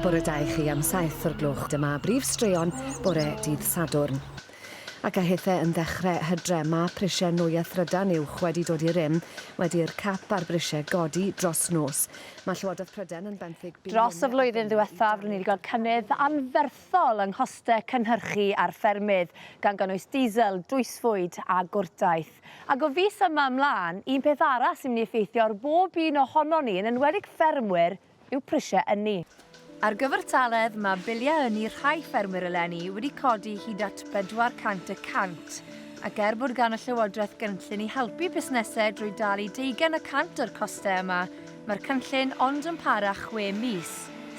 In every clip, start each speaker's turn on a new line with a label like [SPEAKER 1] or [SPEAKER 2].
[SPEAKER 1] bore da i chi am 7 o'r gloch. Dyma brif straeon bore dydd Sadwrn. Ac a hithau yn ddechrau hydre, mae prisiau nwy a thrydan uwch wedi dod i rym, wedi'r cap a'r brisiau godi dros nos. Mae Llywodraeth Prydain yn benthyg... Dros y flwyddyn
[SPEAKER 2] ddiwethaf, rydyn ni wedi gweld cynnydd anferth hethol yng nghostau cynhyrchu ar ffermydd, gan gynnwys diesel, drwysfwyd a gwrtaith. Ac o fis yma ymlaen, un peth arall sy'n mynd i effeithio ar bob un ohonon ni, yn enwedig ffermwyr, yw prisiau ynni. Ar gyfartaledd, mae biliau ynni rhai ffermwyr eleni wedi codi hyd at 400 y cant, ac er bod gan y Llywodraeth gynllun i helpu busnesau drwy dalu deugain y cant o'r costau yma, Mae'r cynllun ond yn para chwe mis,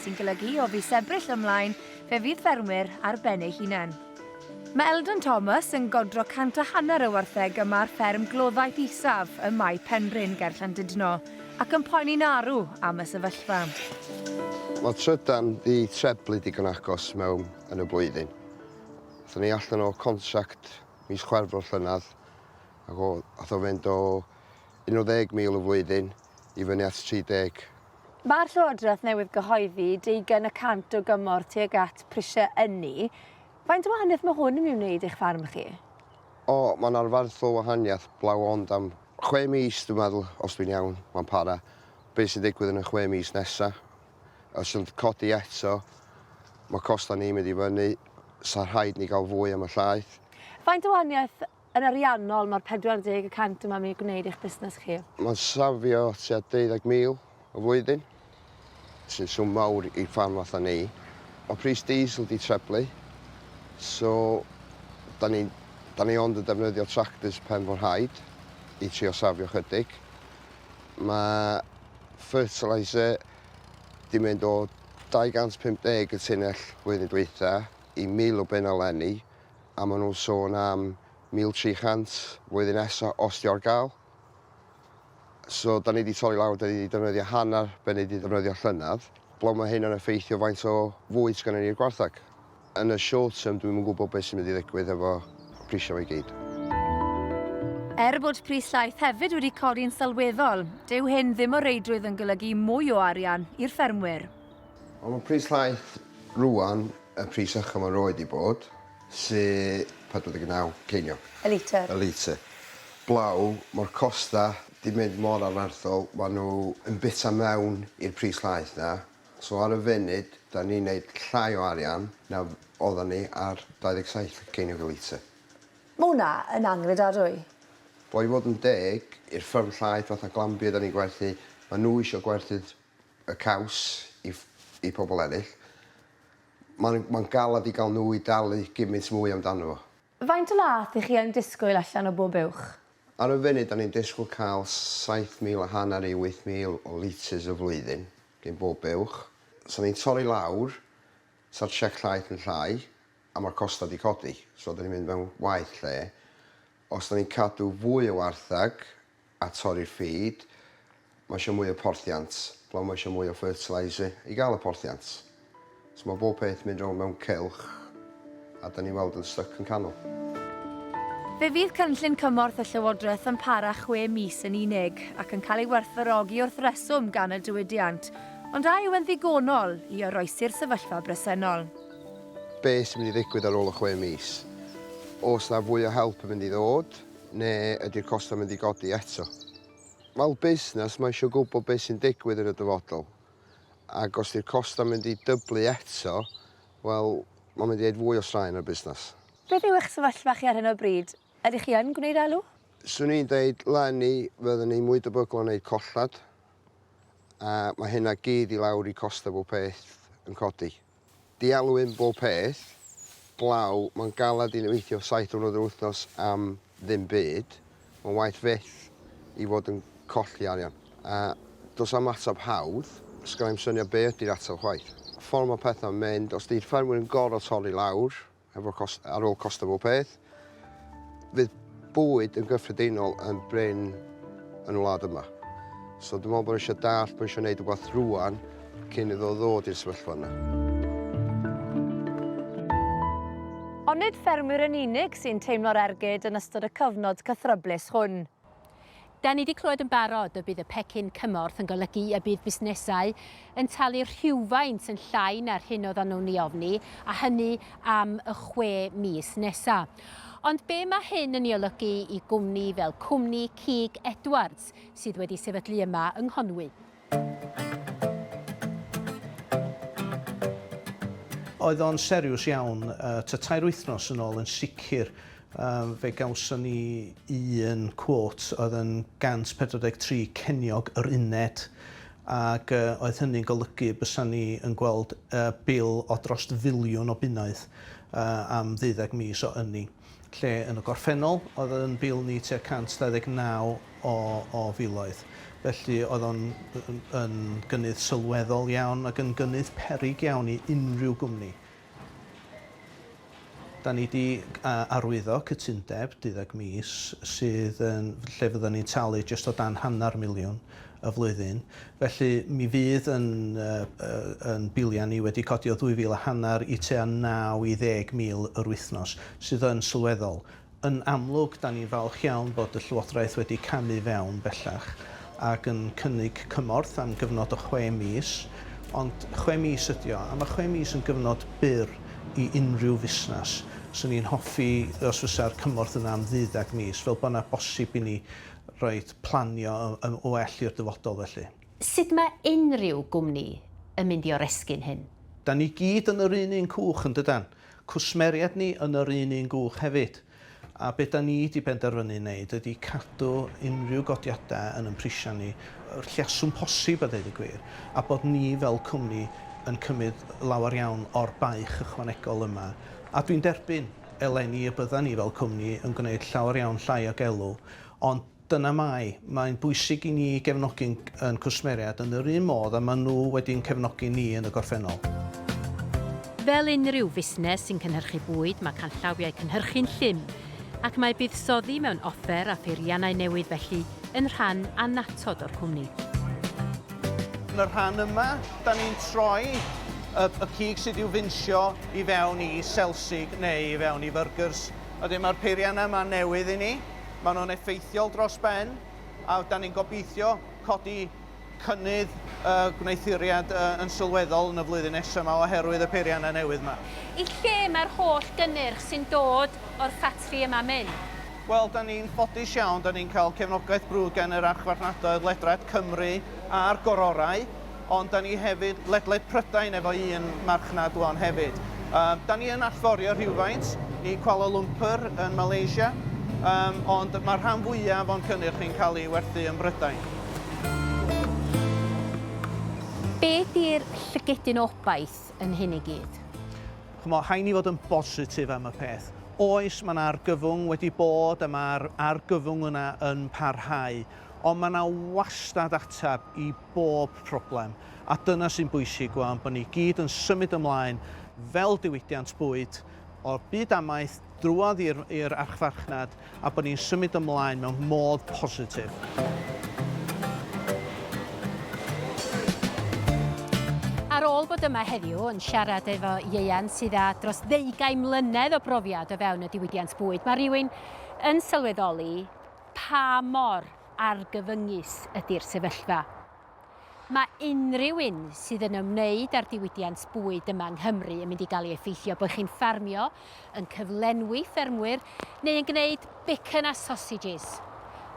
[SPEAKER 2] sy'n golygu o fis Ebrill ymlaen fe fydd ffermwyr ar ben eu hunain. Mae Eldon Thomas yn godro cant a hanner o wartheg yma ar fferm gloddaeth isaf ym Mae Penrhyn ger Llandudno ac yn poeni'n arw am y sefyllfa.
[SPEAKER 3] Mae'r trydan 'di treblu digon agos mewn yn y blwyddyn. Aethon ni allan o contract mis Chwefror llynedd ac o- ath o fynd o 10 mil y flwyddyn i fyny at 30. Mae'r
[SPEAKER 2] Llywodraeth newydd gyhoeddi deugain y cant o gymorth tuag at prisiau ynni. Faint o wahaniaeth mae hwn yn ei wneud eich farn chi? O, mae'n
[SPEAKER 3] arfaethol wahaniaeth, blaw ond am chwe mis dwi'n meddwl, os dwi'n iawn, mae'n para. Be sy'n digwydd yn y chwe mis nesa? Os yn codi eto, mae costau ni'n mynd i fyny, sa rhaid ni gael fwy am y llaeth. Faint o wahaniaeth
[SPEAKER 2] yn ariannol mae'r 40 y cant yma'n mynd i gwneud i'ch busnes chi? Mae'n safio
[SPEAKER 3] tua 20,000 y flwyddyn, sy'n swm mawr i ffarm fatha ni. Mae pris diesel 'di treblu, so da ni, da ni ond yn defnyddio tractors pen fo'n rhaid i trio safio chydig. Mae fertiliser 'di mynd o 250 y tunnell flwyddyn dwytha i 1,000 o bunna 'leni. a ma' nw'n sôn am 1,300 flwyddyn nesa os 'di o ar ga'l. So 'dan ni 'di torri lawr 'dan ni 'di defnyddio hannar be' ni 'di ddefnyddio llynadd. Blaw ma' hyn yn effeithio faint o fwyd sgynnon ni i'r gwartheg. Yn y short term dwi'm yn gwbo be' sy'n mynd i ddigwydd hefo prisia 'ma i gyd.
[SPEAKER 2] Er bod pris llaeth hefyd wedi codi'n sylweddol, dyw hyn ddim o reidrwydd yn golygu mwy o arian i'r ffermwyr. Ond mae pris
[SPEAKER 3] llaeth rŵan y pris ycha mae roed i bod, sydd 49 ceiniog. Y litr. Y litr. Blaw, mae'r costa di mynd mor anarthol, mae nhw yn bita mewn i'r pris llaeth na. So ar y funud, da ni'n neud llai o arian na oeddan ni ar 27 ceiniog y litr. Mae hwnna
[SPEAKER 2] yn angredadwy. Wel i fod
[SPEAKER 3] yn deg, i'r fferm llaeth fatha Glanbia da ni'n gwerthu, mae nhw isio gwerthu'r y caws i i pobl eraill, mae'n mae'n galed i gael nhw i dalu gymaint mwy amdano fo. Faint o laeth i
[SPEAKER 2] chi yn disgwyl allan o bob uwch? Ar y funud, 'da
[SPEAKER 3] ni'n disgwyl cael saith mil a hanner i wyth mil o litres y flwyddyn gin bob uwch. Sa ni'n torri lawr, sa'r siec llaeth yn llai, a ma'r costau 'di codi, so 'da ni'n mynd mewn waeth lle. Os 'da ni'n cadw fwy o wartheg, a torri'r feed, mae eisiau mwy o porthiant, blaw mae eisiau mwy o fertiliser i gael y porthiant. So mae bob peth mynd rownd mewn cylch a da ni'n weld yn styc yn canol.
[SPEAKER 2] Fe fydd cynllun cymorth y Llywodraeth yn para chwe mis yn unig ac yn cael ei werthfawrogi wrth reswm gan y diwydiant, ond a yw e'n ddigonol i oroesi'r sefyllfa bresennol? Beth
[SPEAKER 3] sy'n mynd i ddigwydd ar ôl y chwe mis? Oes 'na fwy o help yn mynd i ddod? Neu ydy'r costau mynd i godi eto? Fel busnes, mae eisiau gwybod beth sy'n digwydd yn y dyfodol. Ac os ydy'r costau mynd i dyblu eto, wel, mae'n mynd i wneud fwy o straen ar y busnes. Beth yw eich sefyllfa
[SPEAKER 2] chi ar hyn o bryd? Ydych chi yn gwneud elw? 'Swn i'n dweud,
[SPEAKER 3] 'leni, fydden ni'n mwy debygol o wneud colled, a mae hynna gyd i lawr i costau bob peth yn codi. Dialwyn bob peth, glaw, mae'n galed i ni weithio saith diwrnod yr wythnos am ddim byd, mae'n waeth fyth i fod yn colli arian. A does am ateb hawdd, sgynna i'm syniad be ydi'r ateb chwaith. Ffordd mae pethau'n mynd, os di'r ffermwyr yn gorfod torri lawr, Efo cost... ar ôl costio bob peth, fydd bwyd yn gyffredinol yn brin yn y wlad yma. So dwi'n meddwl bod eisiau dallt, bod eisiau gwneud rhywbeth rwan cyn iddo ddod i'r sefyllfa yna.
[SPEAKER 2] Ond nid ffermwyr yn unig sy'n teimlo'r ergyd yn ystod y cyfnod cythryblus hwn. Da ni 'di clywed yn barod y bydd y pecyn cymorth yn golygu y bydd busnesau yn talu rhywfaint yn llai na'r hyn oeddan nhw'n ei ofni, a hynny am y chwe mis nesa'. Ond be' ma' hyn yn ei olygu i gwmni fel cwmni cig Edwards sydd wedi sefydlu yma yng Nghonwy?
[SPEAKER 4] Oedd o'n seriws iawn, ta tair wythnos yn ôl yn sicr fe gawson ni un cwot oedd yn 143 ceiniog yr uned ac oedd hynny'n golygu bysa ni yn gweld bil o drost filiwn o bunnoedd am ddeuddeg mis o ynni. lle yn y gorffennol oedd yn Bil ni tua 129 o, o filoedd. Felly oedd o'n yn, yn gynnydd sylweddol iawn ac yn gynnydd perig iawn i unrhyw gwmni. Da ni wedi arwyddo cytundeb 12 mis sydd yn, lle fydden ni'n talu jyst o dan hanner miliwn y flwyddyn, felly mi fydd yn yn biliau ni wedi codi o ddwy fil a hanner i tua naw i ddeg mil yr wythnos, sydd yn sylweddol. Yn amlwg, 'dan ni'n falch iawn bod y Llywodraeth wedi camu fewn bellach ac yn cynnig cymorth am gyfnod o chwe mis, ond chwe mis ydi o, a ma' chwe mis yn gyfnod byr i unrhyw fusnes. 'Swn i'n hoffi os fysa'r cymorth yna am ddeuddag mis, fel bo' 'na bosib i ni Reit, planio yn well i'r dyfodol felly. Sut mae
[SPEAKER 2] unrhyw gwmni yn mynd i oresgyn hyn? Dan ni gyd yn
[SPEAKER 4] yr un un cwch, yn dydan? Cwsmeriaid ni yn yr un un gwch hefyd. A be dan ni di benderfynu neud ydi cadw unrhyw godiada yn yn prisia ni y lleaswm posib a deud y gwir, a bod ni fel cwmni yn cymyd lawar iawn o'r baich ychwanegol yma. A dwi'n derbyn, eleni, y byddan ni fel cwmni yn gwneud llawar iawn llai o gelw, Ond dyna mae, mae'n bwysig i ni gefnogi ein cwsmeriaid yn yr un modd a maen nhw wedi ein cefnogi ni yn y gorffennol.
[SPEAKER 2] Fel unrhyw fusnes sy'n cynhyrchu bwyd, mae canllawiau cynhyrchu'n llym, ac mae buddsoddi mewn offer a pheiriannau newydd felly yn rhan annatod o'r cwmni.
[SPEAKER 4] Yn y rhan yma, da ni'n troi y cig sydd i'w finsio i fewn i selsig neu i fewn i fyrgyrs, Ydyn, mae'r peiriannau yma newydd i ni. Maen nhw'n effeithiol dros ben, a da ni'n gobeithio codi cynnydd y gwneuthuriad yn sylweddol yn y flwyddyn nesaf yma oherwydd y peiriannau newydd yma. I lle mae'r
[SPEAKER 2] holl gynnyrch sy'n dod o'r ffatri yma'n mynd? Wel, da ni'n
[SPEAKER 4] ffodus iawn, da ni'n cael cefnogaeth brwd gan yr Archfarchnadoedd Ledrad Cymru a'r Gororau. ond 'da ni hefyd ledled Prydain efo un marchnad ŵan hefyd. Yym, 'da ni yn allforio rhywfaint i Kuala Lumpur yn Malaysia, yym, ond mae'r rhan fwyaf o'n cynnyrch ni'n cael ei werthu ym Mhrydain.
[SPEAKER 2] Beth yw'r llygedyn obaith yn hyn i gyd? Ch'mo',
[SPEAKER 4] rhaid ni fod yn bositif am y peth. Oes, mae 'na argyfwng wedi bod a mae'r argyfwng yna yn parhau, ond mae 'na wastad ateb i bob problem, a dyna sy'n bwysig wan bod ni gyd yn symud ymlaen fel diwydiant bwyd o'r byd amaeth drwodd i'r i'r archfarchnad a bod ni'n symud ymlaen mewn modd positif.
[SPEAKER 2] Ar ôl bod yma heddiw yn siarad efo ieuan sydd â dros ddeugain mlynedd o brofiad o fewn y diwydiant bwyd, mae rhywun yn sylweddoli pa mor argyfyngus ydy'r sefyllfa. Mae unrhyw un sydd yn ymwneud â'r diwydiant bwyd yma yng Nghymru yn mynd i gael ei effeithio, bod chi'n ffarmio, yn cyflenwi ffermwyr neu yn gwneud bacon a sausages.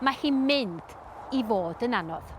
[SPEAKER 2] Mae hi'n mynd i fod yn anodd.